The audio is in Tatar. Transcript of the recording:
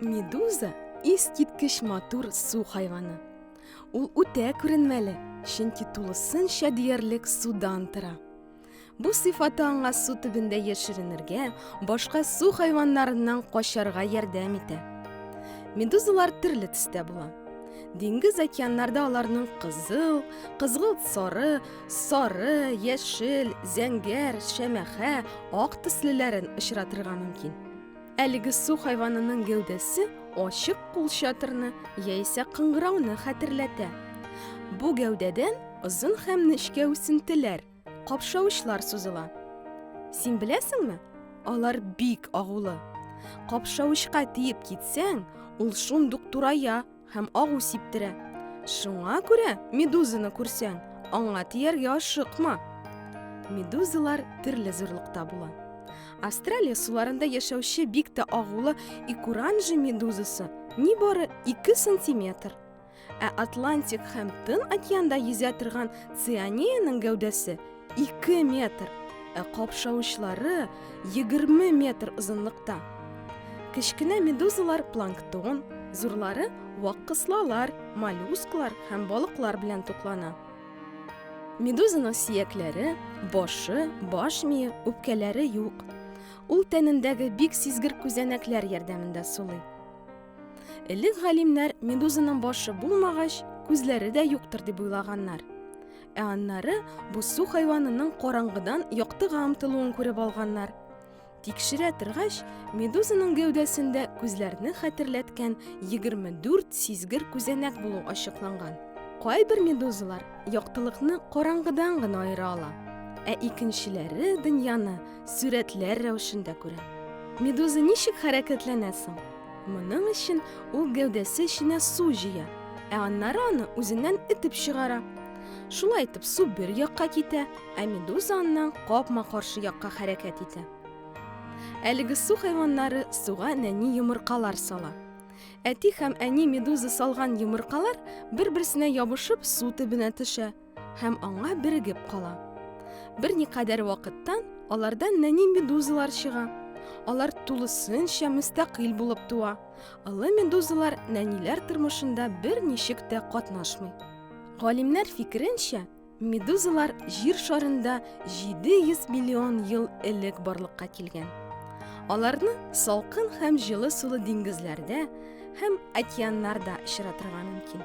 Медуза искиткеч матур су хайваны. Ул үтә күренмәле, чөнки тулысынча диярлек судан тора. Бу сыйфаты аңа су төбендә яшеренергә, башка су хайваннарыннан качарга ярдәм итә. Медузалар төрле төстә була. Диңгез океаннарда аларның кызыл, кызгылт сары, сары, яшел, зәңгәр, шәмәхә, ак төслеләрен очратырга мөмкин. Әлеге су хайванының гәүдәсе ачык кул чатырны яисә кыңгырауны хәтерләтә. Бу гәүдәдән озын һәм нечкә үсентеләр, Капшавычлар сузыла. Син беләсеңме? Алар бик агулы. Капшавычка тиеп китсәң, ул шундук турая һәм агу сиптерә. Шуңа күрә медузаны күрсәң, аңа тияргә ашыкма. Медузалар төрле зурлыкта була. Австралия суларында яшәүче бик тә агулы икуранжи медузасы нибары 2 сантиметр. Ә Атлантик һәм Тын океанда йөзә торган цианияның гәүдәсе 2 метр, ә капшавычлары 20 метр озынлыкта. Кечкенә медузалар планктон, зурлары вак кыслалар, моллюсклар һәм балыклар белән туклана. Медузаның сиякләре, башы, баш мие, үпкәләре юк. Ул тәнендәге бик сизгер күзәнәкләр ярдәмендә сулый. Элек галимнәр медузаның башы булмагач, күзләре дә юктыр дип уйлаганнар. Ә аннары бу су хайванының караңгыдан яктыга омтылуын күреп алганнар. Тикшерә торгач, медузаның гәүдәсендә күзләрне хәтерләткән 24 сизгер күзәнәк булу ачыкланган. Кайбер медузалар яктылыкны караңгыдан гына аера ала, ә икенчеләре дөньяны Сүрәтләр рәвешендә күрә. Медуза ничек хәрәкәтләнә соң? Моның өчен ул гәүдәсе эченә су җыя, ә аннары аны үзеннән этеп чыгара. Шулай итеп су бер якка китә, ә медуза аннан капма каршы якка хәрәкәт итә. Әлеге су хайваннары суга нәни йомыркалар сала. Әти һәм әни медуза салган йомыркалар бер-берсенә ябышып су төбенә төшә. һәм аңа бирегеп кала. Берникадәр вакыттан аларда нәни медузалар чыга. Алар тулысынча мөстәкыйль булып туа. Олы медузалар нәниләр тормышында бер ничек тә катнашмый. Галимнәр фикеренчә, медузалар җир шарында 700 миллион ел элек барлыкка килгән. Аларны салкын һәм җылы сулы диңгезләрдә, һәм океаннар да очратырга мөмкин.